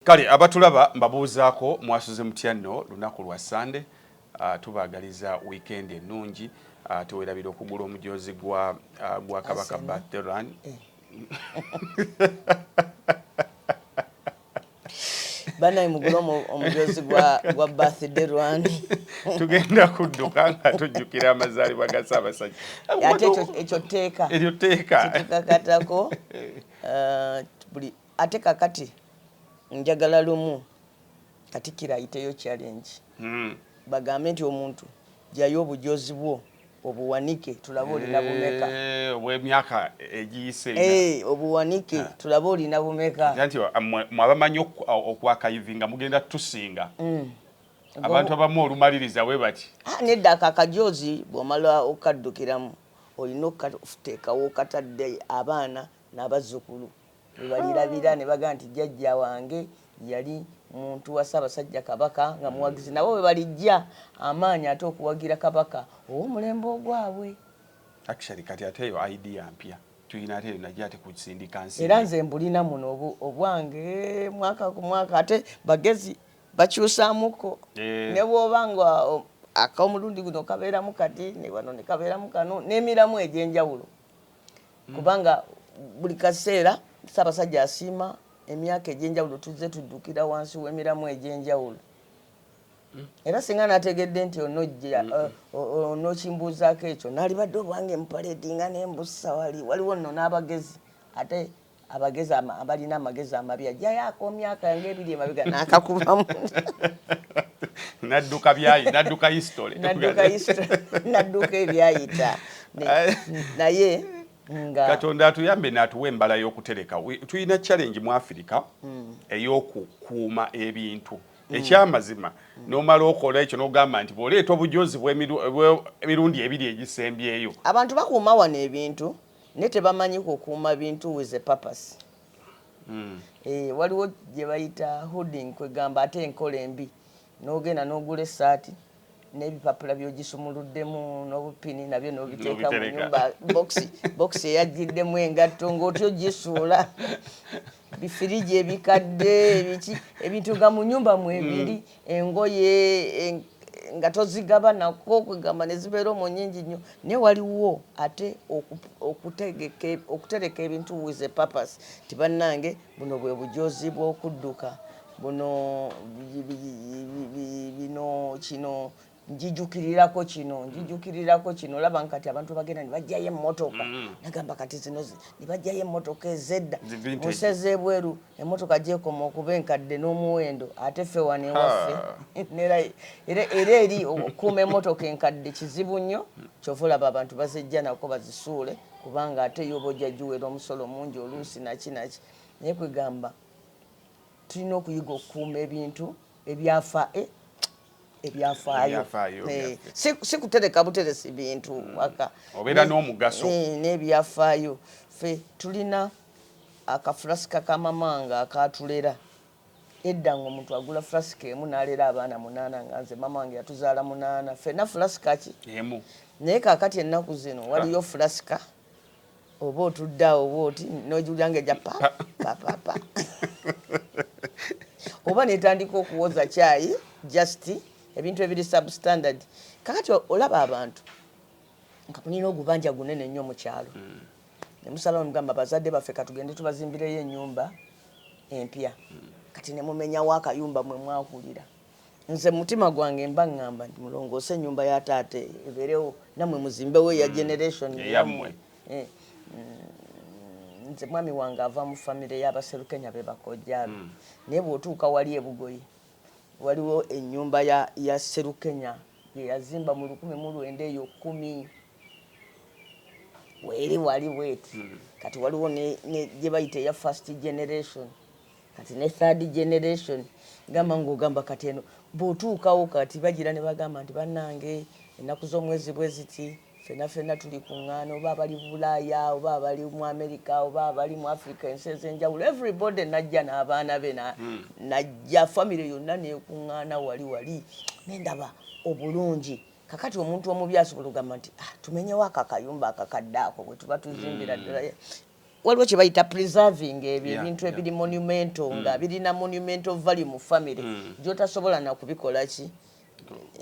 Kale abatulaba mbabuuzaako mwasuze mutya nno lunaku lwa Ssande? Tubaagaliza wiikendi ennungi ate werabira okugula omujoozi gwa gwa Kabaka Birthday Run. banaye mugule omujoozi gwa birthday run tugenda kudduka nga tujjukira amazaalibwa ga ssaabasajja ate ekyo tteeka eryo tteeka tetukakatako eh. eh, buli Ate kakati njagala lumu Katikkiro ayiteyo challenge bagambe nti omuntu jayo obujoozi bwo obuwanike tulabe olina bumeka. Eeh obwemyaka egiyise nga. Eeh obuwanike tulabe olina bumeka. Nze nti mwe abamanyi oku akayivinga mugenda tusinga. Abantu abamu olumaliriza webati. Haa nedda ako akajoozi bwomala okaddukiramu olina okatekawo okatadde abaana nabazukulu. webalirabira nebagamba nti jjajja wange yali muntu wa Ssaabasajja Kabaka nga muwagizi nabo webalijja amaanyi ate okuwagira Kabaka ow'omulembe ogwabwe. Actually kati ate eyo idea mpya tuyina ate najja ate kusindika nsi era nze mbulina muno obwange mwaka ku mwaka ate bagezi bakyusamuko eh. ne bwoba nga akomulundi guno kabeeramu kati ne wano ne kabeeramu kano n'emiramu egy'enjawulo mm. kubanga buli kaseera Ssaabasajja asiima emyaka egy'enjawulo tuzze tuddukira wansi w'emiramu egy'enjawulo mm. era singa nategedde nti onojja uh, onokimbuuzaako ekyo nalibadde obwange mupaledinga nembussa wali waliwo nno n'abagezi ate abagezi ama- abalina amagezi amabi ajjayo akomyaka nga ebiri emabega nakakubamu nadduka byayi nadduka history nadduka history nadduka ebyayita Ne- Aye. naye nga katonda atuyambe natuwa embala y'okutereka We- tulina challenge mu afirika Hmm. ey'okukuuma ebintu ekyamazima nomala okola ekyo nogamba nti bwoleeta obujozi bw'emiru- bw'emirundi ebiri egisembyeyo abantu bakuuma wano ebintu ne tebamanyi kukuuma bintu with a purpose mm. eh, waliwo gye bayita hooding kwegamba ate enkola embi n'ogenda n'ogula essaati n'ebipapula byogisumuluddemu n'obupini nabyo n'obiteeka mu nyumba bokisi bokisi eyajjiddemu engatto ng'otyo gisuula bifiriji ebikadde ebiki ebintu nga mu nyumba mwebiri mm. engoye nga tozigaba nako kwegamba nezibeera omwo nyingi nnyo naye waliwo ate okutereka ebintu with a purpose nti bannange buno bwe bujoozi bw'okudduka buno bino kino njijukirirako kino njijukirirako kino olaba nga kati abantu bagenda ne bajjayo emmotoka mm. nagamba kati zino ne bajjayo emmotoka ezedda museze ebweru emmotoka gyekoma okuba enkadde n'omuwendo ate ffe wano ewaffe era eri okukuuma emmotoka enkadde kizibu nnyo kyova olaba abantu bazijja nako bazisuule kubanga ate yoba ojja giwera omusolo mungi oluusi naki naki naye kwegamba tulina okuyiga okukuuma ebintu ebyafa eh, ebyafaayo eh, si kutereka buteresi bintu mm. waka obeera n'omugaso eh, n'ebyafaayo fe tulina akafulasika kamamanga akatulera edda nga omuntu agula fulasika emu n'alera abaana munaana nga nze mama wange yatuzaala munaana fena fulasika ki emu naye kakati ennaku zino waliyo fulasika oba otudde awo bwoti nogiwulira nga eja papapapa oba netandika okuwoza kyayi just ebintu ebiri substandard kakati olaba abantu nga mulina ogubanja gunene nnyo mu kyalo mm. nemusalawo mugamba bazadde baffe katugende tubazimbireyo ennyumba empya mm. kati nemumenyawo akayumba mwe mwahulira nze mutima gwange mba ngamba nti mulongoose enyumba ya taata eyo ebeerewo namwe muzimbewo eya mm. generation eyamwe eh, mm, nze mwami wange ava mu famire y'abaserukenya be bakojjaabe mm. naye bw'otuuka wali ebugoyi waliwo enyumba ya, ya serukenya yeyazimba mu lukumi mu lwenda eyo kumi weeri wali bweti kati waliwo gye bayita eya first generation kati ne third generation gamba ng'ogamba kati eno bw'otuukawo kati bagira ne bagamba nti bannange ennaku z'omwezi bwe ziti fena fena tuli kuŋŋaana oba abali bulaaya oba abali mu amerika oba abali mu africa ensi ez'enjawulo everybody najja n'abaana be hmm. najja famire yonna nekuŋŋaana wali wali nendaba obulungi kakati omuntu omubi asobola ogamba nti ah, tumenyewo akakayumba akakadde ako bwe tuba tuzimbira hmm. ddala waliwo kye bayita preserving ebyo yeah, ebintu ebiri yeah. monumental mm. nga birina monumental value mu family mm. gyotasobola nakubikola ki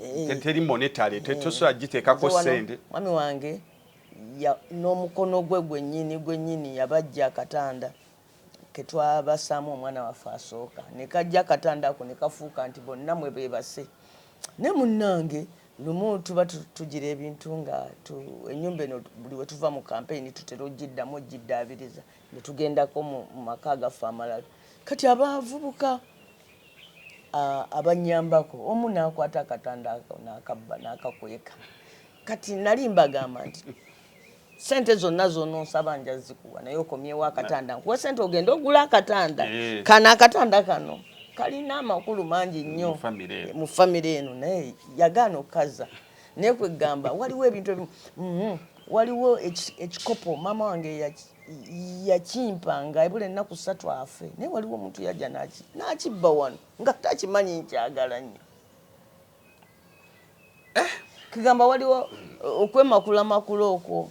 eh. teri monetary eh. tosobola giteekako sente mwami wange n'omukono gwe gwennyini gwennyini yabajja akatanda ketwabasaamu omwana waffe asooka nekajja akatanda ako nekafuuka nti bonna mwe bebase ne munnange Lumu tuba tugira ebintu nga tu, ennyumba eno buli we tuva mu kampeyini tutera okugiddamu okugiddaabiriza ne tugendako mu maka agaffe amalala. Kati abavubuka abannyambako omu n'akwata akatanda n'akabba n'akakweka. Kati nali mbagamba nti sente zonna zononsaba nja zikuwa naye okomyewo akatanda nkuwe sente ogende ogula akatanda eh. kano akatanda kano kalina amakulu mangi nnyo mu famire eno naye yagaana okukaza naye kwegamba waliwo ebintu ebimu mhm. waliwo ekikopo maama wange yakimpanga ebula ennaku ssatu afe naye waliwo omuntu yajja nakibba wano nga takimanyi nkyagala nnyo eh? kigamba waliwo uh, okwemakula makula okwo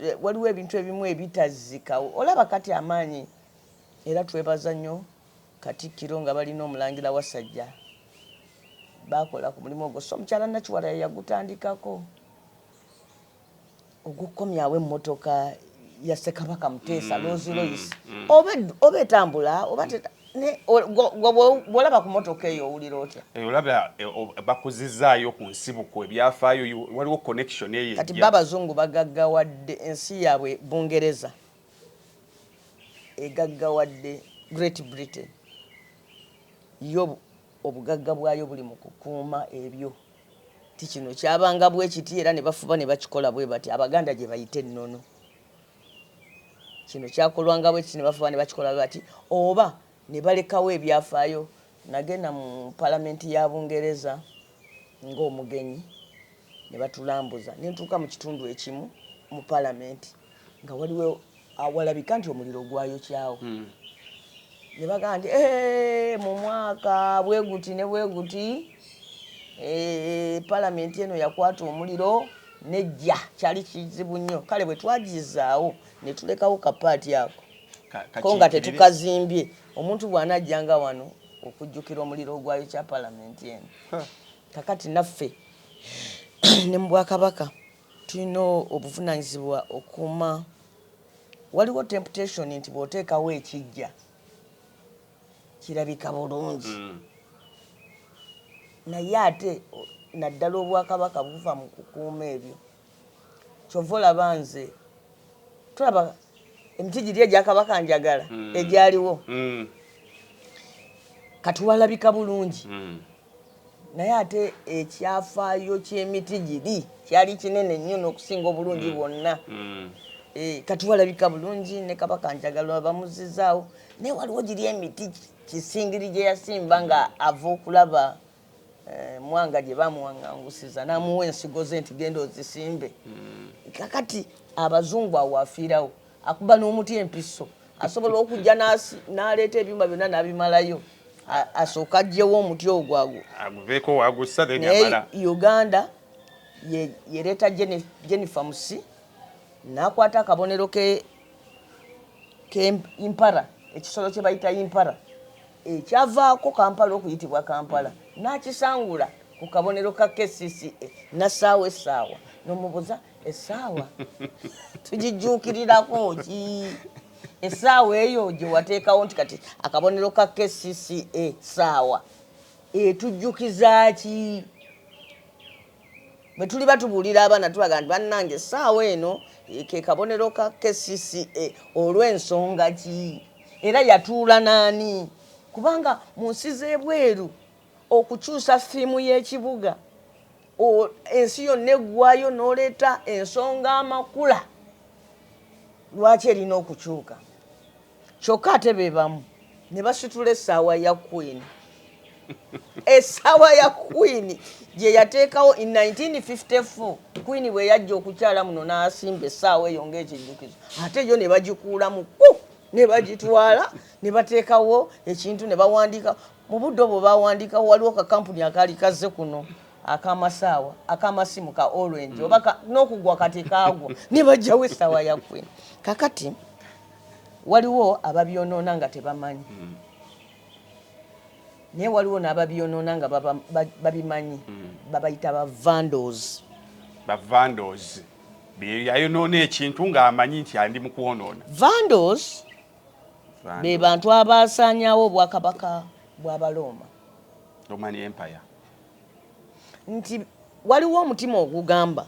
eh, waliwo ebintu ebimu ebitazzikawo olaba kati amaanyi era twebaza nnyo katikkiro nga balina omulangira wasajja bakola ku mulimu ogwo so omukyala nakiwala yeyagutandikako okukomyawo emmotoka ya Ssekabaka Muteesa Rolls Royce oba etambula oba bwolaba ku motoka eyo owulira otya eh, olaba eh, bakuzizaayo ku nsibuko ebyafaayo waliwo connection eyo kati babazungu bagaggawadde ensi yaabwe bungereza egaggawadde great britain yo obugagga bwayo buli mu kukuuma ebyo nti kino kyabanga bwe kiti era ne bafuba ne bakikola bwe bati Abaganda gye bayita ennono. Kino kyakolwanga bwe kiti ne bafuba ne bakikola bwe bati oba ne balekawo ebyafaayo. Nagenda mu Palamenti ya Bungereza ng'omugenyi ne batulambuza ne ntuuka mu kitundu ekimu mu Palamenti. nga waliwo awalabika nti omuliro gwayokyawo hmm. ne bagamba nti eh, mu mwaka bwe guti ne bwe guti eh, palamenti eno yakwata omuliro nejja kyali kizibu nnyo kale bwe twagizaawo ne tulekawo kapaati ako ko nga tetukazimbye omuntu bw'anajjanga wano okujjukira omuliro ogwayo kya palamenti eno kakati naffe ne mu bwakabaka Tulina obuvunanyizibwa okuuma waliwo temputation nti bwotekawo ekijja kirabika bulungi naye ate naddala obwakabaka buva mu kukuuma ebyo kyova olaba nze tulaba emiti giri egyakabaka njagala egyaliwo kati walabika bulungi. Naye ate ekyafaayo ky'emiti giri kyali kinene nnyo n'okusinga obulungi mm. bwonna. Mm. Eh, kati walabika bulungi ne kabaka njagala bamuzizaawo naye waliwo giri emiti kisingiri gye yasimba nga ava okulaba eh, mwanga gye bamuwangangusiza n'amuwa ensigo ze nti genda ozisimbe. Mm. Kakati abazungu awo afiirawo. akuba n'omuti empiso asobola okujja n'aleeta ebyuma byonna n'abimalayo asooka ajjewo omuti ogwo aguveekowagussanaye uganda yereeta jennifer musi n'akwata akabonero keimpara ekisolo kye bayita impara ekyavaako kampala okuyitibwa kampala n'akisangula ku kabonero ka kcca nassaawo essaawa nomubuza essaawa tugijjuukirirako ki essaawa eyo gye wateekawo nti kati akabonero ka kcca saawa etujjukiza ki bwe tuli batubuulira abaana tulaga nti bannange essaawa eno ke kabonero ka kcca olw'ensonga ki era yatuula n'ani kubanga mu nsi z'ebweru okukyusa ffiimu y'ekibuga ensi yonna eggwayo n'oleeta ensonga amakula lwaki erina okukyuka kyokka ate be bamu ne basitula essaawa ya kwini essaawa ya kwini gye yateekawo in 1954 kwini bwe yajja okukyala muno n'asimba essaawa eyo ng'ekijjukizo ate yo ne bagikuulamu ku ne bagitwala ne bateekawo ekintu ne bawandiika Mu budde obwo baawandiikawo waliwo kakampuni akaali kazze kuno akamasaawa akamasimu ka orange mm. oba n'okugwa kati kaagwa ne bajjawo essaawa ya kwini kakati waliwo ababyonoona nga tebamanyi mm. naye waliwo n'ababyonoona nga babimanyi mm. babayita bavandos bavandos yayonoona ekintu ng'amanyi nti andi mu kwonoona vandos be bantu abaasaanyaawo obwakabaka bw'Abalooma. Roman Empire. Nti waliwo omutima ogugamba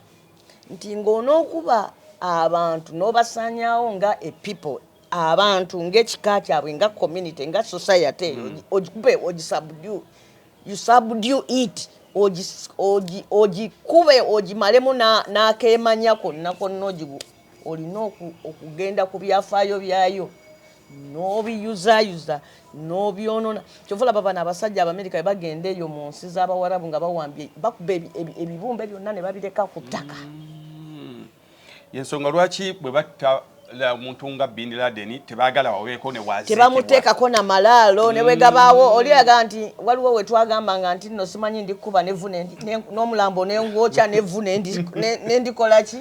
nti ng'onookuba abantu n'obasaanyaawo nga a people abantu ng'ekika kyabwe nga community nga society eyo mm. ogikube ogisabdu you subdu it ogikube ogimalemu n'akeemanya konna konna ogigu olina okugenda ku byafaayo byayo n'obiyuzayuza n'obyonona kyova olaba bano abasajja abamerika bagenda eyo mu nsi z'abawarabu nga bawambye bakuba ebibumbe byonna ne babireka ku ttaka mm. yensonga lwaki bwe batta omuntu nga bin laden tebagala waweeko newatebamuteekako na malaalo ne bwe gabaawo mm. oli aga nti waliwo we twagambanga nti nno simanyi ndikukuba nevu n'omulambo nengwokya nevu nendikolaki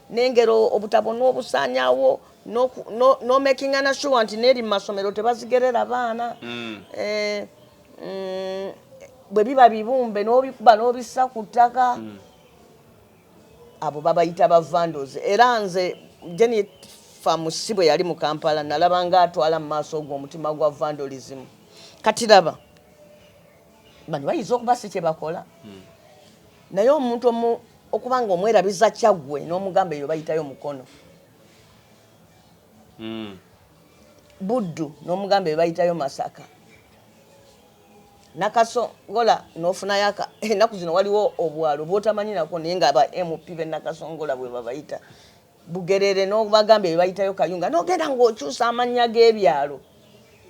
nengero obutabo nobusanyawo nomakinga na sure nti neri mumasomero tebazigerera baana mm. eh, mm, bwebiba bibumbe nobikuba nobisa ku ttaka mm. abo babayita bavandos era nze jeni famusi bwe yali mu kampala nalaba nga atwala mu maaso ogwo omutima gwa vandalism katiraba bano bayinza okuba si kye bakola hmm. naye omuntu omu okuba nga omwerabiza kyaggwe n'omugamba eyo bayitayo mukono hmm. buddu n'omugamba eyo bayitayo masaka nakasongola nofunayo enaku zino waliwo obwalo bwotamanyinako naye nga aba mp benakasongola bwebabayita Bugerere n'obagamba ebyo bayitayo Kayunga n'ogenda ng'okyusa amannya g'ebyalo.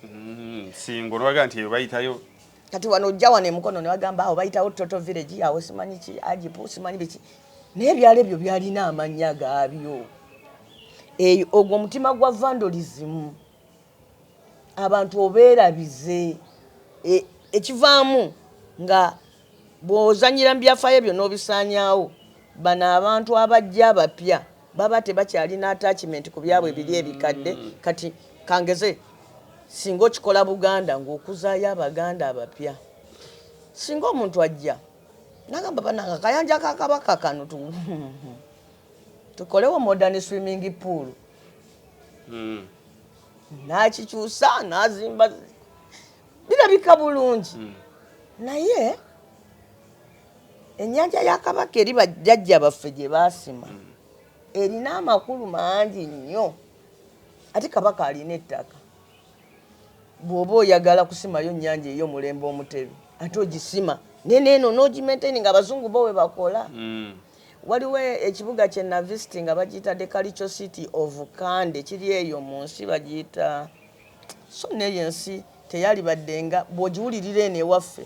Mm, Ssingo n'obagamba nti ebyo bayitayo. Kati wano ojja wano e Mukono ne bagamba awo bayitawo Toto Village awo simanyi ki Ajipu simanyi biki naye ebyalo ebyo byalina amannya gaabyo. Eyo ogwo omutima gwa vandalism abantu obeerabize e, ekivaamu nga Bw'ozannyira mu byafaayo byo n'obisaanyaawo, bano abantu abajja abapya baba tebakyalina attachment ku byabwe biri ebikadde. Kati kangeze singa okikola Buganda ng'okuzaayo Abaganda abapya. Singa omuntu ajja nagamba banange akayanja ka Kabaka kano tu tukolewo modern swimming pool hmm. nakikyusa nazimba birabika bulungi hmm. naye ennyanja ya kabaka eri bajjajja baffe gye baasima hmm. erina amakulu mangi nnyo ate kabaka alina ettaka bw'oba oyagala kusimayo nnyanja eyo mulembe omutebi ate ogisima neneeno n'ogimaintaini nga abazungu bo we bakola hmm. waliwo ekibuga kye navisitinga bagiyita dekalico city of kande kiri eyo mu nsi bagiyita So nno eyo ensi teyalibadde nga bw'ogiwulirira eno ewaffe,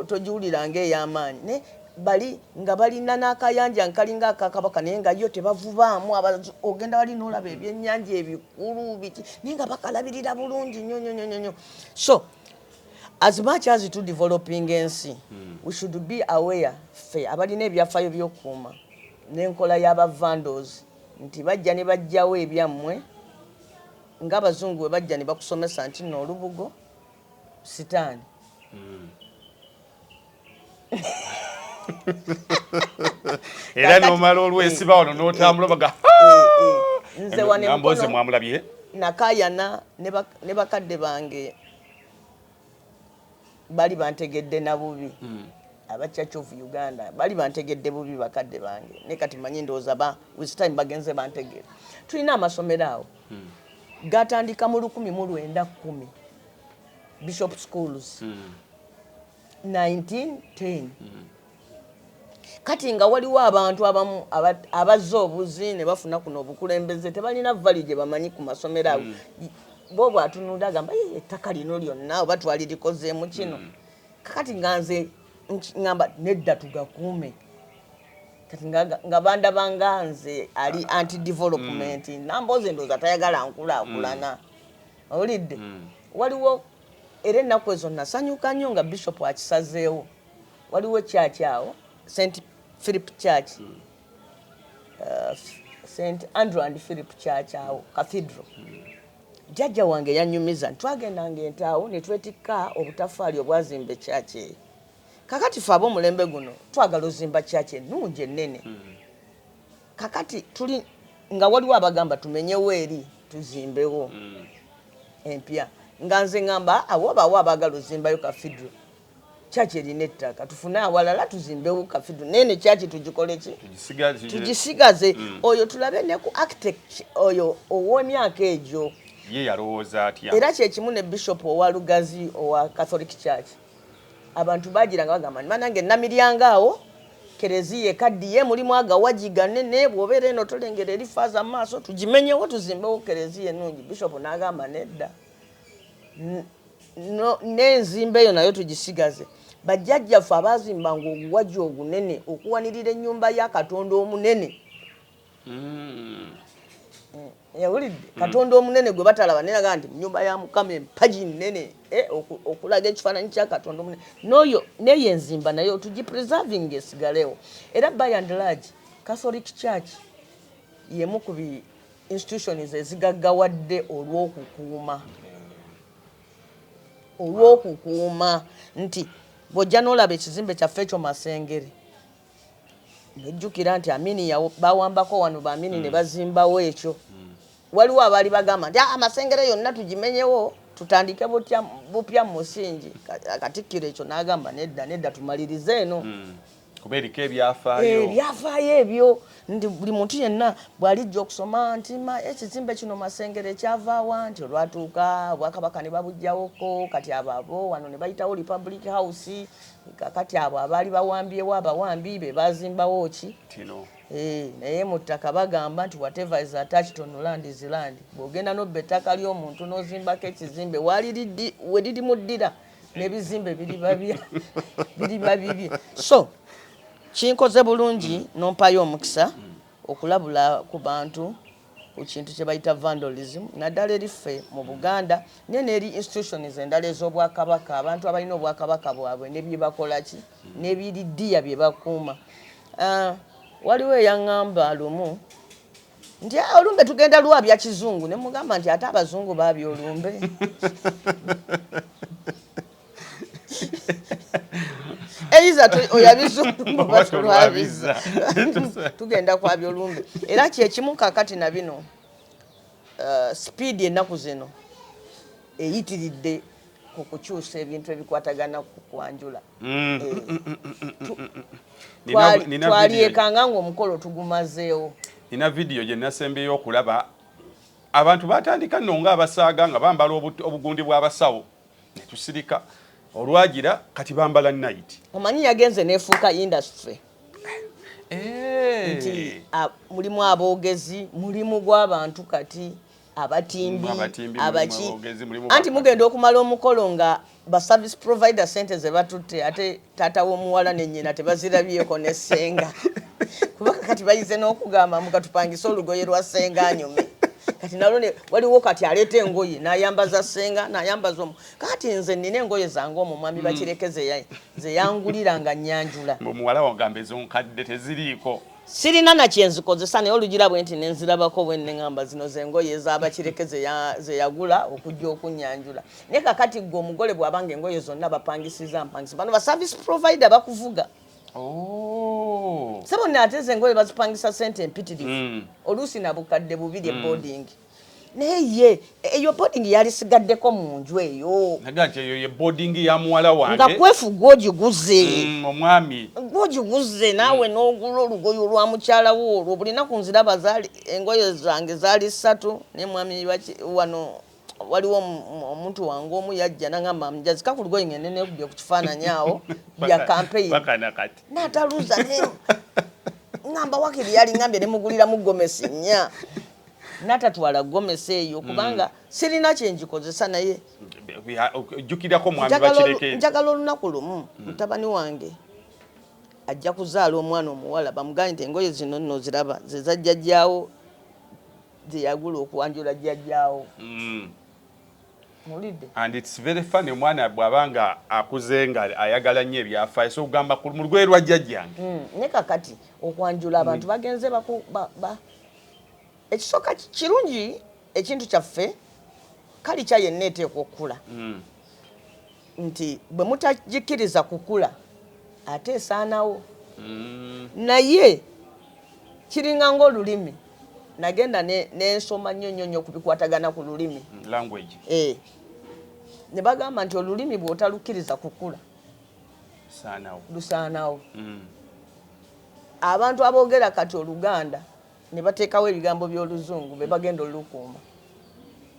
togiwulira nga ey'amaanyi, naye bali nga balina n'akayanja nga kalinga aka Kabaka naye nga yo tebavubaamu, ogenda wali n'olaba ebyennyanja ebikulu biki naye nga bakalabirira bulungi nnyo nnyo nnyo nnyo. So as much as to developing ensi hmm. we should be aware ffe abalina ebyafaayo by'okukuuma n'enkola y'aba vandals nti bajja ne bajjawo ebyammwe nga abazungu bwe bajja ne bakusomesa nti nno olubugo sitaani hmm. era nomala olwesiba wano notambula baga nze mwamulabye nakayana ne bakadde bange bali bantegedde na bubi hmm. aba church of uganda bali bantegedde bubi bakadde bange naye kati manyi ndowooza ba with time bagenze bantegera tulina amasomero awo hmm. gatandika mu lukumi mu lwenda kumi bishop schools 1910 hmm. Kati nga waliwo abantu abamu abazza obuzi ne bafuna kuno obukulembeze tebalina vali gye bamanyi ku masomero ago mm. bo bwatunulira agamba ettaka lino lyonna oba twalirikozeemu kino mm. kakati nga nze ngamba nedda tugakuume kati nga bandaba nga nze ali anti development mm. namboozi endooza tayagala nkulaakulana mm. owulidde mm. waliwo era ennaku ezo nasanyuka nnyo nga bishop akisazeewo waliwo church awo st philip church mm. uh, st andrew and philip church awo cathedral mm. jajja wange yanyumiza ntitwagendanga entaawo netwetikka obutafaali obwazimba ekyaki eyo kakati fe abomulembe guno twagala ozimba kyaki enungi enene mm. kakati tuli nga waliwo abagamba tumenyewo eri tuzimbewo mm. empya nga nze ngamba awobaawo abagala ozimbayo kafidro kyaki erina ettaka tufune awalala tuzimbewo kafidu nene kyaki tugikoleki tugisigaze mm. oyo tulabe ne ku architect oyo ow'emyaka egyo ye yalowooza atya era kyekimu ne bishop owa lugazi owa catholic church abantu bagiranga bagamba ni banange namiryanga awo kereziya ekaddiye mulimu agawaji ganene bwobeera eno tolengera eri faaza mu maaso tugimenyewo tuzimbewo kereziya enungi bishop n'agamba nedda n'enzimba eyo nayo tugisigaze bajjajjaffe abaazimbanga oguwagi ogunene okuwanirira ennyumba ya katonda omunene hmm. yawulidde hmm. katonda omunene gwe batalaba neraga nti munyumba ya mukama empagi nene eh, okulaga ekifaananyi kya katonda omunene noyo neyo enzimba nayo tugipreserving esigalewo era by and large catholic church yemu ku institutions ezigaggawadde olw'okukuuma olw'okukuuma nti bw'ojja n'olaba ekizimbe kyaffe ekyo masengere nojjukira nti amini bawambako wano baamini ne hmm. bazimbawo ekyo hmm. waliwo abaali bagamba nti ah, amasengere yonna tugimenyewo tutandike bupya mu musingi katikkiro ekyo n'agamba nedda nedda tumalirize eno hmm. kuba eriko ebyafaayo eh, ebyafaayo ebyo nti buli muntu yenna bwalijja okusoma nti ekizimbe kino masengere ekyavaawa nti olwatuuka obwakabaka ne babujjawoko kati ababo wano ne bayitawo republic house kakati abo abaali bawambyewo abawambi be bazimbawo ki kino Eh, naye mu ttaka bagamba nti whatever is attached on land is land bw'ogenda n'obba ettaka ly'omuntu n'ozimbako ekizimbe waliridi we lirimuddira nebizimbe biriba bibye so kinkoze bulungi nompayo omukisa okulabula ku bantu ku kintu kye bayita vandalism naddala eri ffe mu buganda naye neeri institutions endala ez'obwakabaka abantu abalina obwakabaka bwabwe ne bye bakola ki n'ebiriddiya bye bakuuma ah, waliwo eyaŋŋamba lumu nti ah, olumbe tugenda lwa bya kizungu ne mugamba nti ate abazungu baabya olumbe eiza oyabizulwabiza tugenda kwabya olumbe era kyekimu kakati na bino uh, sipiidi ennaku zino eyitiridde ku kukyusa ebintu ebikwatagana ku kwanjula Mm. twalyekanga ngaomukolo tugumazeewo nina vidiyo gye nasembyeyo okulaba abantu batandika nno nga abasaaga nga bambala obugundi bw'abasawo ne tusirika olwagira kati bambala nayiti omanyi yagenze nefuuka industry eh. nti mulimu aboogezi mulimu gw'abantu kati abatimbi abaki anti mugenda okumala omukolo nga ba service provider sente zebatutte ate taata w'omuwala ne nyina tebazirabyeko ne senga kuba kati bayize n'okugamba mbu katupangise olugoye lwa senga anyume kati nalwo waliwo kati aleeta engoye nayambaza senga nayambaza omu kati nze nina engoye zange omu mwami bakireke zeyangulira nga nyanjula omuwala wagamba ezonkadde teziriiko sirina na kyenzikozesa naye olugira bwe nti nenzirabako bwe nengamba zino zengoye ezabakireke zeyagula okujja okunyanjula naye kakati gwe omugole bwabanga engoye zonna bapangisiza mpangisa bano ba service provider bakuvuga oh. sebonna ate zengoye bazipangisa sente empitirivu mm. oluusi nabukadde bubiri mm. eboarding mm. naye ye eyo boarding yalisigaddeko mu nju eyo naga nti eyo ye boarding ya muwala wange nga kwefu gwogiguze mm, omwami gwogiguze naawe mm. n'ogula olugoye olwa mukyala wo olwo buli naku nziraba engoye zange zaali ssatu naye mwami wano waliwo omuntu wange omu yajja nangamba mjazika ku lugoye ngende nekubye ku kifaananyi awo bya kampeyi nataluza ngamba wakiri yali ngambye nemuguliramu gomesi nnya natatwala gomesi eyo kubanga mm. sirina kyenjikozesa naye jjukirako mwami bakireke njagala olunaku lumu mm. mutabani wange ajja kuzaala omwana omuwala bamugambye nti engoye zino nno ziraba zezajjajjaawo zeyagula okwanjula jjajjaawo mm. and its very funny omwana bwaba nga akuze nga ayagala nnyo ebyafaayo so ogamba mu lugwe lwa jjajjange ne kakati okwanjula abantu bagenze Ekisooka kirungi ekintu kyaffe kalikya yenna eteekwa okukula hmm. nti bwe mutagikkiriza kukula ate esaanawo hmm. naye kiringa ng'olulimi nagenda nensoma nnyo nnyo nnyo kubikwatagana ku lulimi hmm, eh. ne bagamba nti olulimi bw'otalukkiriza kukula lusaanawo Abantu aboogera kati Oluganda ne bateekawo ebigambo by'Oluzungu be bagenda olukuuma.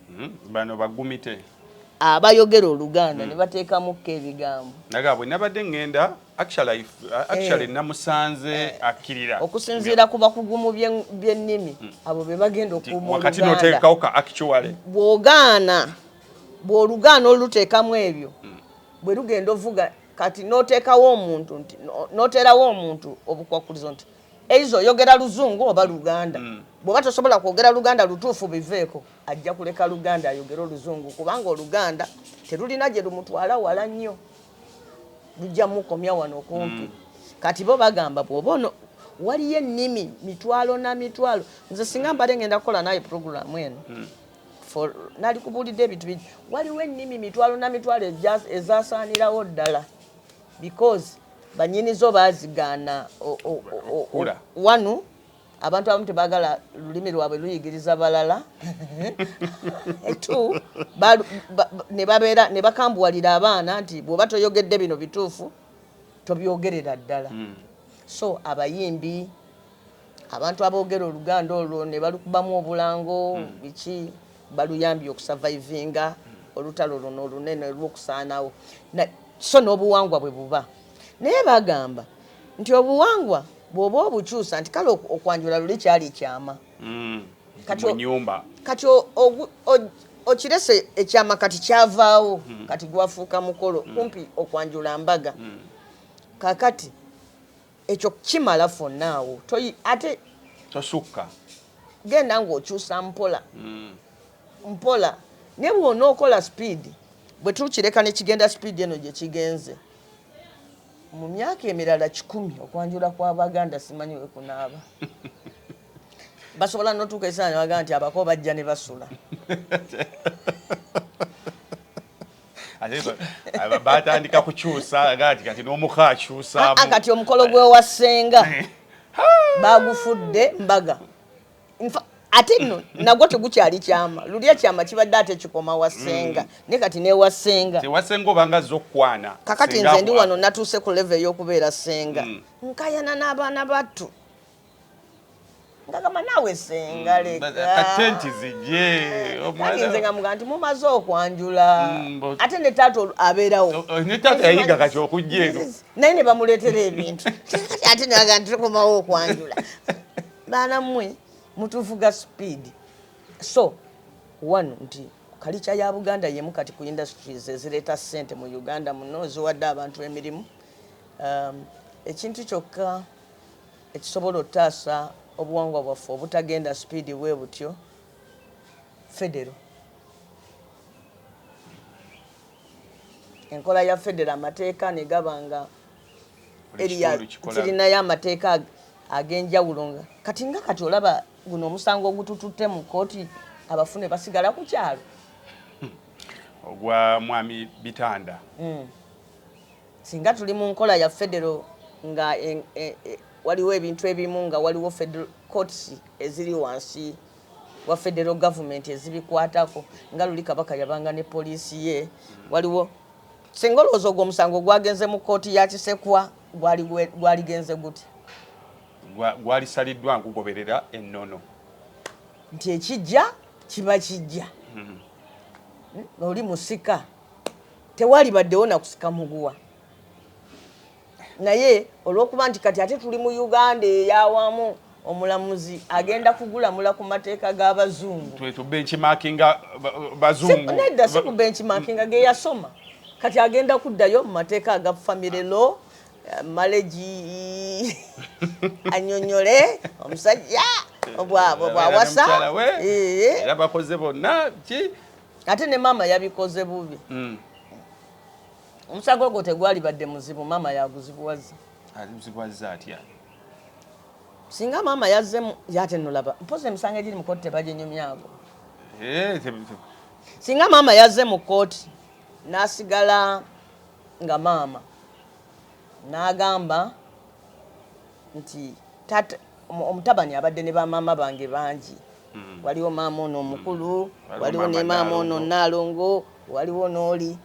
Hmm, bano bagumite. Abayogera Oluganda hmm. ne bateekamukko ebigambo. Naga bwe nabadde ŋŋenda actually actually eh. namusanze eh. akkirira. Okusinziira ku bakugumu by'ennimi hmm. abo be bagenda okuuma Oluganda. Wakati n'oteekawo ka actually. Bw'ogaana bw'olugaana oluteekamu ebyo bwe lugenda ovuga kati notekawo omuntu nti noterawo omuntu obukwakkulizo nti eiza oyogera luzungu oba luganda mm. bwoba tosobola kwogera luganda lutuufu biveeko ajja kuleka luganda ayogere oluzungu kubanga oluganda terulina gye lumutwala wala nnyo lujja mukomya wano kumpi mm. kati bo bagamba bwoba ono waliyo ennimi mitwalo na mitwalo nze singa mbadde ngenda kukola naye puroguramu eno mm. for nali kubulidde ebintu bingi waliwo ennimi mitwalo na mitwalo ezasaanirawo ddala because banyini zo bazigaana wanu abantu abamu tebagala lulimi lwabwe luyigiriza balala t nebabeera ne bakambuwalira abaana nti bwoba toyogedde bino bituufu tobyogerera ddala hmm. so abayimbi abantu aboogera oluganda olwo ne balukubamu obulango biki baluyambye okusavayivinga olutalo luno olunene olw'okusaanawo so n'obuwangwa bwe buba naye bagamba nti obuwangwa bw'oba obukyusa nti kale okwanjula luli kyali kyama mm. kati okirese ekyama kati kyavaawo mm. kati gwafuuka mukolo mm. kumpi okwanjula mbaga kakati Ekyo kimala fonna awo toyi ate tosukka genda ng'okyusa mpola mm. mpola naye bwona okola sipiidi bwe tukireka ne kigenda sipiidi eno gye kigenze mu myaka emirala kikumi okwanjula kw'abaganda simanyi we kunaaba basobola notuuka ekisaanyi baga nti abako bajja ne basula batandika kukyusa gati kati n'omuko akyusaamu ah, ah, kati omukolo gwewa ssenga eh. bagufudde mbaga ate nno nagwo tegukyali kyama lulya kyama kibadde ate kikoma wa ssenga mm. ne kati newa ssenga tewasenga obanga zza okukwana kakati nze ndi wano natuuse ku leve ey'okubeera ssenga mm. nkayana n'abaana battu ngagamba naawe senga mm, lekatenti uh, zigye omwanze nga muga nti mumaze okwanjula mm, ate ne taata abeerawo oh, oh, ne taata yayiga kati okujja eno naye ne bamuleetera ebintu ate naga nti tukomawo okwanjula baana mmwe mutuvuga speed so one nti kalica ya buganda yemu kati ku industries ezireeta ssente mu uganda muno ziwadde abantu emirimu um, ekintu kyokka ekisobola otaasa obuwangwa bwaffe obutagenda sipiidi bwebutyo, Federo. Enkola ya Federo amateeka negaba nga eriya kirinayo amateeka agenjawulo nga kati nga kati olaba guno omusango ogutututte mu kkooti abafune basigala ku kyalo hmm. ogwa mwami bitanda mm. Singa tuli mu nkola ya federo nga waliwo ebintu ebimu nga waliwo federal courts eziri wansi wa federal government ezibikwatako nga luli Kabaka yabanga ne poliisi ye waliwo singa olowooza ogwo omusango gwagenze mu kkooti ya Kisekwa gwaligenze gute? Gwalisaliddwa nkugoberera ennono nti ekijja kiba kijja. Hmm. Hmm? Oli musika Tewalibaddewo na kusika muguwa. Naye olw'okuba nti kati ate tuli mu Uganda ey'awamu, omulamuzi agenda kugulamula ku mateeka g'Abazungu. Twetu benchmarkinga Bazungu. Nedda si ku benchmarkinga ge yasoma. Kati agenda kuddayo mu mateeka aga family law maleji anyonyole omusajja obwawasa era bakoze bonna ki ate ne maama yabikoze bubi mm. omusago ogwo tegwalibadde muzibu maama yaguzibuwazza azibuwazza atya singa maama yazzemu yatenolaba mpozi emisango egiri mukooti tebaginyumyago eh, singa maama yazze mu kooti nasigala nga maama nagamba nti taata omutabani abadde ne bamaama bange bangi mm. waliwo maama ono omukulu mm. waliwo ne maama ono naalongo waliwo n'oli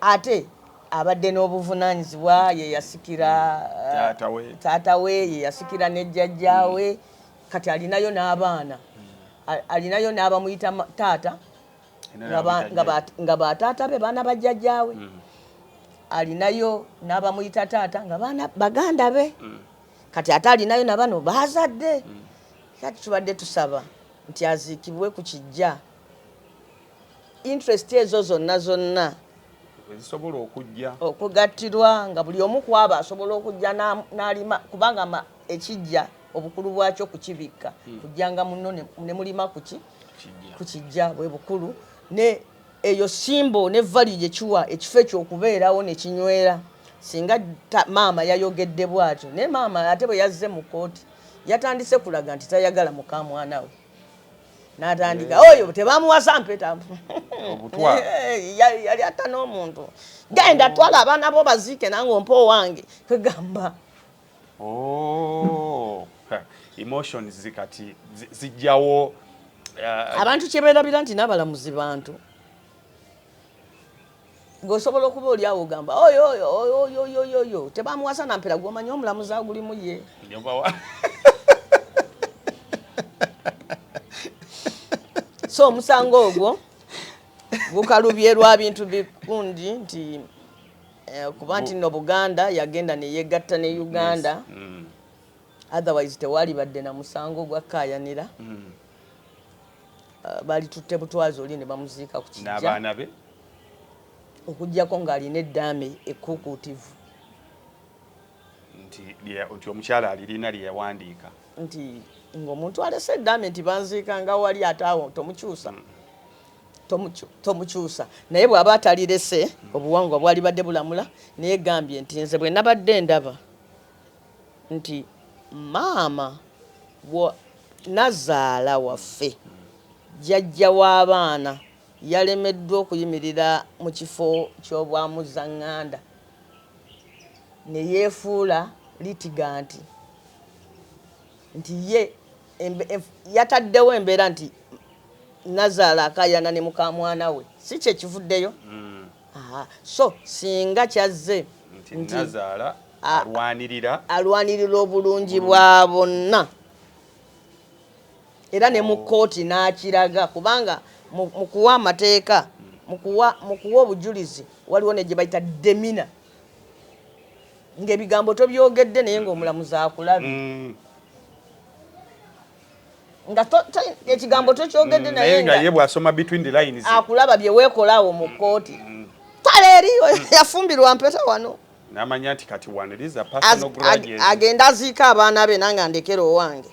ate abadde n'obuvunanyizibwa yeyasikira mm. taata we eh, yeyasikira ne jjajjaawe mm. kati alinayo n'abaana mm. alinayo n'abamuyita taata nga bataata be baana bajjajjaawe mm. alinayo n'abamuyita taata nga baana baganda be mm. kati ate alinayo na bano baazadde mm. kati tubadde tusaba nti aziikibwe ku kijja interest ezo zonna zonna ezisobola okujja okugattirwa nga buli omu kwaba asobola okujja n'alima kubanga ekijja obukulu bwakyo kukibikka hmm. kujjanga muno ne mulima kuki kukijja bwe bukulu ne eyo simbo ne vali gye kiwa ekifo ekyokubeerawo ne kinywera singa maama yayogedde bwatyo naye maama ate bwe yazze mu kkooti yatandise kulaga nti tayagala muka mwana we natandika eh. oyo tebamuwasa mpeta eh, yali atta n'omuntu genda twala abaana bo baziike nange ompa owange kwegamba Oh, emotions zikati zijjawo uh, abantu kyeberabira nti n'abalamuzi bantu ng'osobola okuba oli awo ogamba oyoyoyoyoyo tebamuwasa nampera gwomanya omulamuzi agulimu ye so omusango ogwo gukalubye lwa bintu bikundi nti Eh, kuba nti no buganda yagenda neyegatta ne uganda yes. mm. otherwise tewali badde na musango gwakkayanira mm. uh, eh, balitutte butwazi oli ne bamuziika ku kijja be okugyako ng'alina eddaame ekkuukuutivu nti nti omukyala alirina lye yawandiika nti ng'omuntu alese eddaame nti banziika nga wali ate awo tomukyusa mm. tomukyusa naye bwaba atalirese obuwangwa bwalibadde bulamula naye gambye nti nze bwe nabadde ndaba nti maama nazaala waffe jajja w'abaana yalemeddwa okuyimirira mu kifo ky'obwamuzaŋŋanda ne yeefuula litiganti nti ye yataddewo embeera nti nazaala akayana ne mukamwana we si kyekivuddeyo mm. so singa kyazze nti alwanirira obulungi bwa bonna era ne mu oh. kkooti n'akiraga kubanga mu kuwa amateeka mm. mu kuwa obujulizi waliwo ne gye bayita demina ngaebigambo tobyogedde naye ngaomulamuzi akulabye mm. nga ekigambo tokyogedde mm, naye nga ye bwasoma between the lines akulaba bye wekolaawo mu kkooti mm, mm. tale eriyo yafumbirwa mpeta wano namanya nti kati waniriza personal grudges agenda aziika abaana be nange andekera owange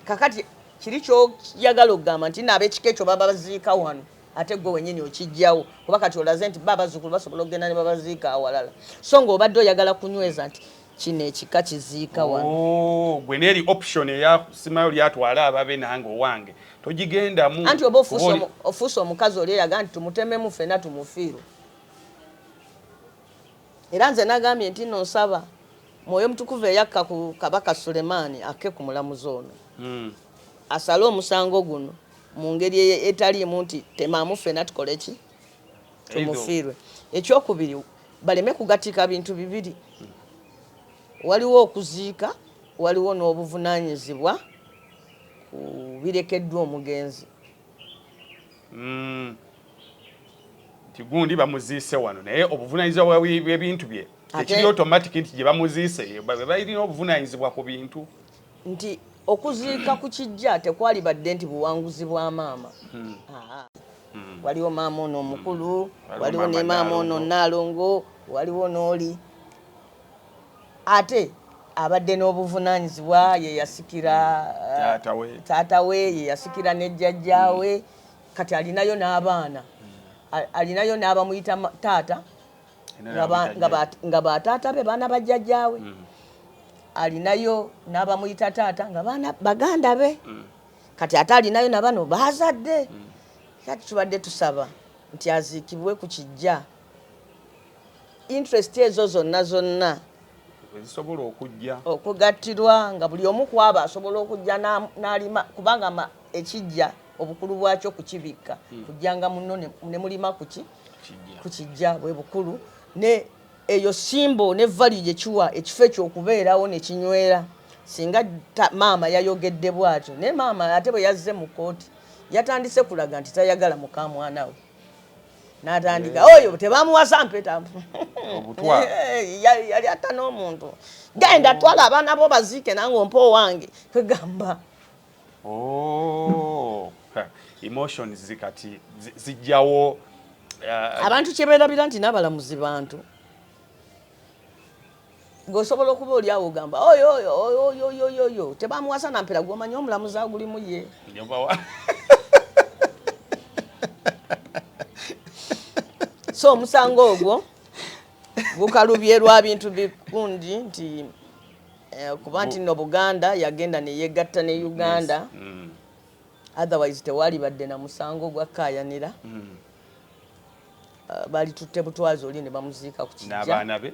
kakati kiri kyoyagala okugamba nti naabekika ekyo baba baziika wano Ate ggwe wennyini okiggyawo kuba kati olaze nti bo abazzukulu basobola okugenda ne babaziika awalala so ng'obadde oyagala kunyweza nti kino ekika kiziika wano oh, gwe neeri option eyasimayo lyatwala ababe nange owange togigendamu anti oba ofuuse omukazi oli eraga nti tumutememu fena tumufiirwe era nze nagambye nti no nsaba mwoyo mutukuvu eyakka ku kabaka sulemaani akke ku mulamuzi ono hmm. asale omusango guno mu ngeri etaliimu nti temaamu ffena tukole ki tumufiirwe ekyokubiri baleme kugatika bintu bibiri waliwo okuziika waliwo n'obuvunanyizibwa ku birekeddwa omugenzi mm. tigundi bamuziise wano naye obuvunanyizibwa bwebintu bye tekiri automatic nti gyebamuziise balina obuvunanyizibwa ku bintu Nti okuziika ku kijja tekwalibadde nti buwanguzi bwa maama. Haa. Waliwo maama ono omukulu, waliwo ne maama ono Nnaalongo, waliwo n'oli. Ate abadde n'obuvunaanyizibwa, ye yasikira taata we, ye yasikira ne jjajjaawe, kati alinayo n'abaana, alinayo n'abamuyita taata. nga bataata be baana bajjajjaawe mm. alinayo n'abamuyita taata nga baana baganda be mm. kati ate alinayo na bano baazadde mm. kati tubadde tusaba nti aziikibwe ku kijja interest ezo zonna zonna ezisobola okujja okugattirwa nga buli omu kwaba asobola okujja n'alima kubanga ekijja na obukulu bwakyo kukibikka hmm. kujjanga muno ne mulima kuki kukijja bwe bukulu ne eyo simbo ne vali gye kiwa ekifo ekyokubeerawo ne kinywera singa maama yayogedde bwatyo naye maama ate bwe yazze mu kooti yatandise kulaga nti tayagala muka mwana we natandika eh. oyo tebamuwasa mpeta eh, yali atta n'omuntu genda twala abaana bo baziike nange ompa owange kwegamba Oh, emotions zikati zijjawo uh, abantu kyeberabira nti n'abalamuzi bantu ng'osobola okuba oli awo ogamba oyoyoyoyoyoyo tebamuwasa nampera gwomanya omulamuzi agulimu ye so omusango ogwo gukalubye lwa bintu bikundi nti Eh, kuba nti no buganda yagenda neyegatta ne uganda mm. otherwise tewalibadde na musango gwakkayanira mm. eh, balitutte butwazi oli ne bamuziika ku kijja be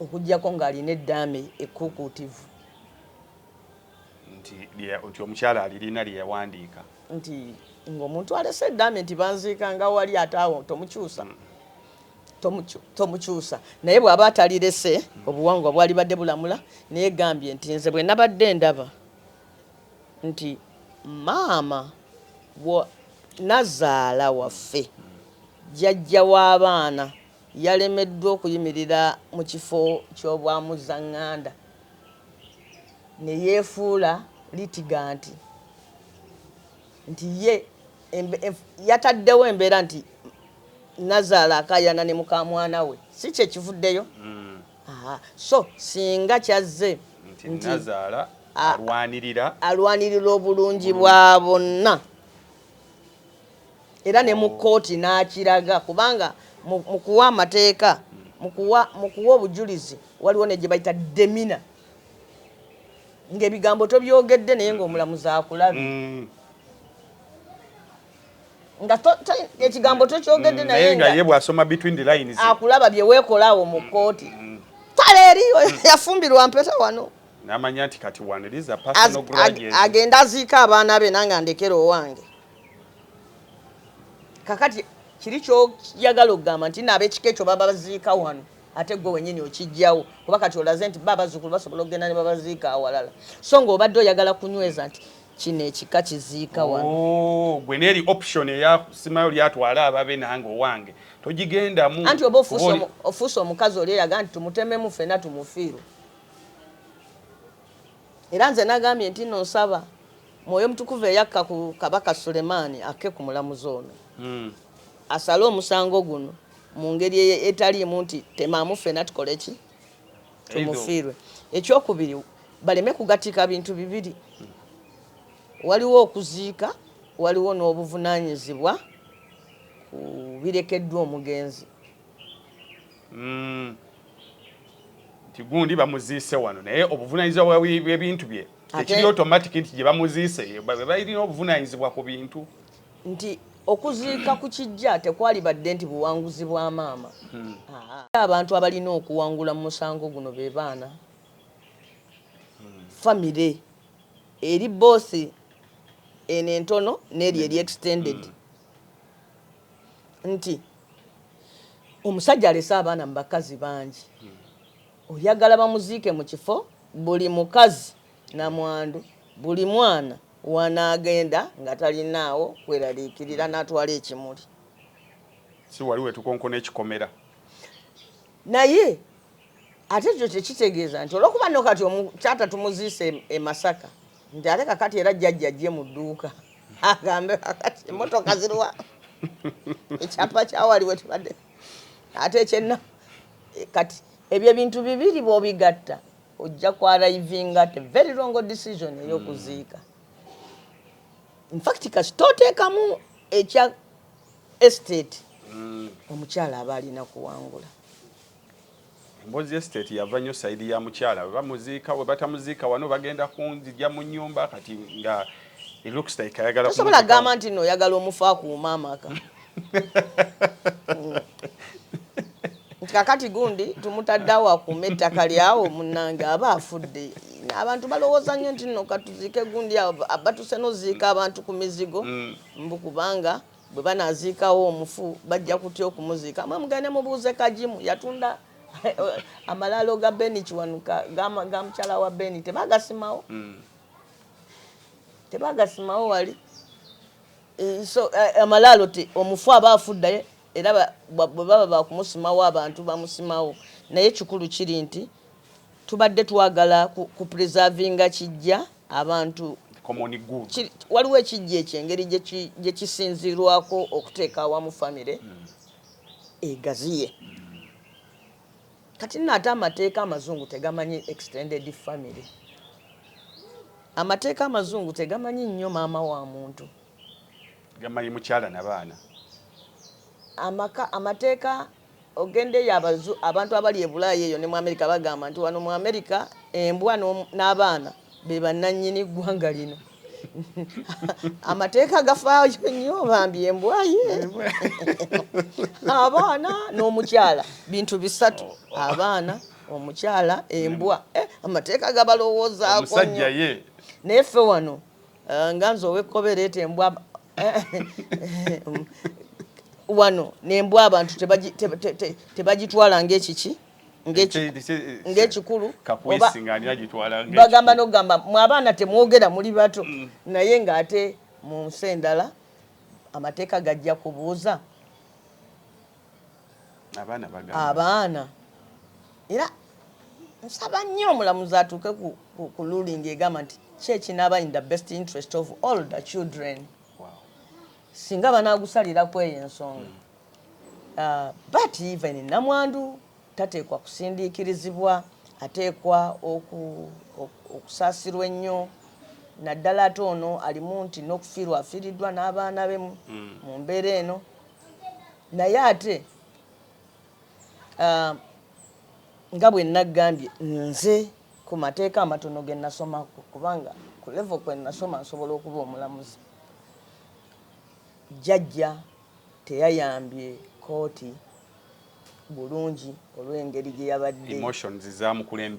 okugyako ng'alina eddaame ekkuukuutivu nti omukyala alirina lye yawandiika nti ng'omuntu alese eddaame nti banziika nga wali ate awo tomukyusa mm. tomukyusa naye bwaba atalirese obuwangwa bwalibadde bulamula naye gambye nti nze bwe nabadde ndaba nti maama nazaala waffe jajja w'abaana yalemeddwa okuyimirira mu kifo ky'obwamuzzaŋŋanda ne yeefuula litiganti nti ye yataddewo embeera nti nazaala akayana ne mukamwana we si kyekivuddeyo mm. so singa kyazze nti alwanirira obulungi bwa bonna era ne mu kkooti n'akiraga kubanga mu kuwa amateeka mu kuwa obujulizi waliwo ne gye bayita demina ng'ebigambo tobyogedde naye ng'omulamuzi akulabye mm. nga ekigambo tokyogedde mm, naye nga ye bw'asoma between the lines akulaba bye weekola awo mu kkooti mm. tale eriyo yafumbirwa mpeta wano namanya nti kati wano eriza personal grudges agenda aziika abaana be nange andekera owange kakati kiri kyoyagala okugamba nti naabekika ekyo baba baziika wano Ate ggwe wennyini okiggyawo kuba kati olaze nti bo abazzukulu basobola okugenda ne babaziika awalala so ng'obadde oyagala kunyweza nti kino ekika kiziika wano oh, gwe neeri option eyasimayo lyatwala ababe nange owange togigendamu anti oba ofuuse omukazi oli eraga nti tumutememu fena tumufiirwe era nze nagambye nti no nsaba mwoyo mutukuvu eyakka ku kabaka sulemaani akke ku mulamuzi ono hmm. asale omusango guno mu ngeri etaliimu nti temaamu ffena tukole ki tumufiirwe ekyokubiri baleme kugatika bintu bibiri waliwo okuziika waliwo n'obuvunanyizibwa ku birekeddwa omugenzi hmm. nti gundi bamuziise wano naye obuvunanyizibwa bwebintu bye tekiri automatic nti gyebamuziise balina obuvunanyizibwa ku bintu nti okuziika ku kijja tekwalibadde nti buwanguzi bwa maama. Abantu abalina okuwangula mu musango guno be baana, famire eri both eno entono n'eri eri extended nti omusajja alese abaana mu bakazi bangi oyagala bamuziike mu kifo buli mukazi Namwandu buli mwana wanaagenda nga talinaawo kweraliikirira n'atwala ekimuli. Si wali wetukonkona ekikomera. Naye ate ekyo tekitegeeza nti olwokuba no kati taata tumuziise e, e Masaka nti ate kakati era jjajja ajje mu dduuka agambe kakati emmotoka ziriwa ekyapa kyawali wetubadde ate ekyenna kati ebyo ebintu bibiri bwobigatta ojja ku arrivinga at a very wrong decision eyokuziika mm. infact kasita oteekamu ekya estate mm. omukyala aba alina kuwangula embozi estate yava nnyo saidi ya mukyala webamuziika webatamuziika wano bagenda kunzija mu nyumba kati nga osobola gamba nti no oyagala omufa akuuma amaka nti kakati gundi tumutaddeawo akuuma ettaka lyawo munange aba afudde abantu balowooza nnyo nti no katuziike gundi abatuse noziika abantu ku mizigo mm. mbu kubanga bwe banaziikawo omufu bajja kutya okumuziika mwe mugende mubuuze kagimu yatunda amalaalo ga beni kiwanuka ga mukyala wa beni tebagasimawo mm. tebagasimawo wali Eh, so eh, amalaalo ti omufu aba afudde era bwe baba bakumusimawo abantu bamusimawo naye kikulu kiri nti tubadde twagala ku preservinga kijja abantu waliwo ekijja ekyo engeri gye kisinzirwako okuteeka awamu famire hmm. egaziye Kati nno ate amateeka amazungu tegamanyi extended family. Amateeka amazungu tegamanyi nnyo maama wa muntu. Gamanyi mukyala na baana. Amaka amateeka ogenda eyo abazu abantu abali e Bulaaya eyo ne mu America bagamba nti wano mu America embwa n'abaana be bannannyini ggwanga lino. amateeka gafaayo nnyo bambi embwaye abaana n'omukyala bintu bisatu abaana omukyala embwa eh, amateeka gabalowoozaako nnyo naye ffe wano eh, nga nze owekkobereeta embwa eh, wano nembwa abantu tebagitwala ngaekiki te, te, te, te, ng'ekikulu bagamba n'okugamba mu abaana temwogera muli bato mm. naye ng'ate mu nsi endala amateeka gajja kubuuza abaana era nsaba nnyo omulamuzi atuuke ku lulingi egamba nti ki ekinaaba in the best interest of all the children singa banaagusalira kweyo ensonga mm. But even Namwandu tateekwa kusindiikirizibwa, ateekwa okusaasirwa ennyo naddala ate ono alimu nti n'okufiirwa afiiriddwa n'abaana be mu hmm. mbeera eno naye ate ah, nga bwe nnaggambye nze ku mateeka amatono ge nasoma kubanga ku levo kwe nasoma nsobola okuba omulamuzi jjajja teyayambye kkooti bulungi olw'engeri gye yabadde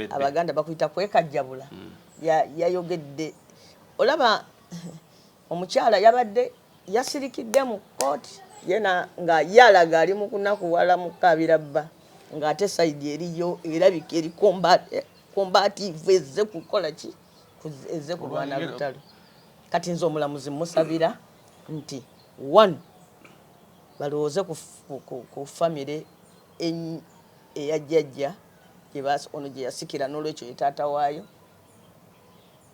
abaganda bakuyita kwekajjabula yayogedde olaba omukyala yabadde yasirikidde mu kkooti yena nga ye alaga ali mu kunakuwala mu kukaabira bba ng'ate sayidi eriyo erabika eri kombaatiivu ezze kukola ki ezze kulwana lutalo kati nze omulamuzi musabira nti one balowooze ku ku ku family eny- eya jjajja gye baas- ono gye yasikira n'olwekyo ye taata waayo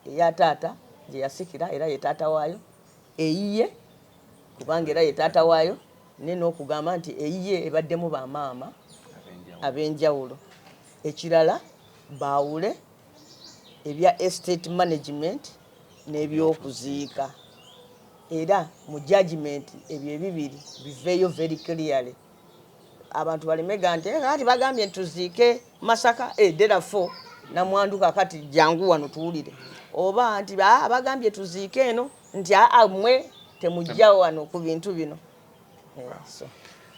eya taata gye yasikira era ye taata waayo eyiye kubanga era ye taata waayo ne n'okugamba nti eyiye ebaddemu ba maama ab'enjawulo ekirala baawule ebya Estate Management n'ebyokuziika era mu judgement ebyo ebibiri biveeyo very clearly abantu baleme ga nti eh, kati bagambye tuziike Masaka edera eh, fo namwandu kakati jangu wano tuwulire oba nti ah, bagambye tuziike eno nti amwe ah, ah, temujja wano ku bintu bino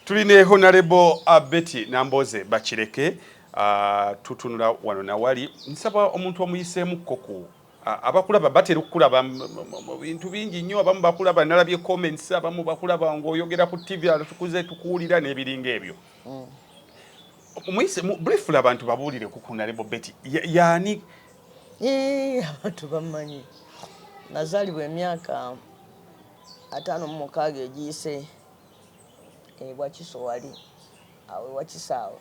tuli ne honarebo uh, betty namboze bakireke uh, tutunula wano nawali nsaba omuntu omuyiseemukko ku uh, abakulaba batera okukulaba mu bintu bingi nnyo abamu bakulaba nalabye comments abamu bakulaba ngaoyogera ku tv tukuze tukuwulira n'ebiringa ebyo mm. muyise briefly abantu babuulire ku kunarebo betty yaani abantu bamanyi nazaalibwa emyaka ataano mu mukaaga egiyise e Wakiso wali awo e Wakiso awo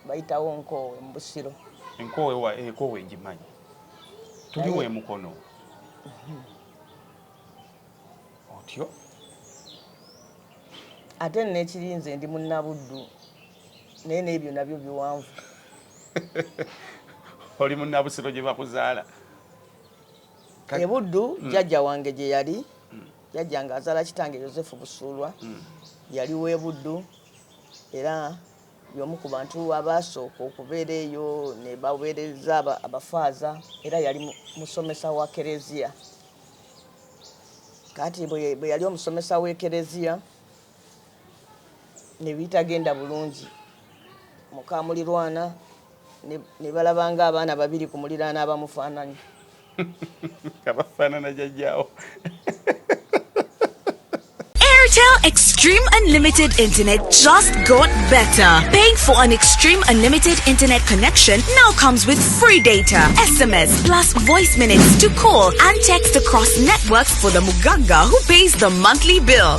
bayitawo Nkoowe mu Busiro. Enkoowe wa Ekoowe eh, ngimanyi tuli we Mukono mhm. otyo ate nekirinze ndi munnabuddu naye n'ebyo nabyo biwanvu oli munnabusiro gye bakuzaala e Buddu mm. jjajja wange gye yali mm. jjajja nga azaala kitange Yosefu Busuulwa mm. yali w'e Buddu era y'omu ku bantu abaasooka okubeera eyo ne baweereza abafaaza era yali musomesa wa kereziya kati bwe yali omusomesa w'ekereziya ne bitagenda bulungi muka mulirwana ne balaba nga abaana babiri ku muliraana abamufaananya abafaanana jajjaawo Airtel Extreme Unlimited Internet just got better. Paying for an Extreme Unlimited Internet connection now comes with free data, SMS, plus voice minutes to call and text across networks for the Muganga who pays the monthly bill.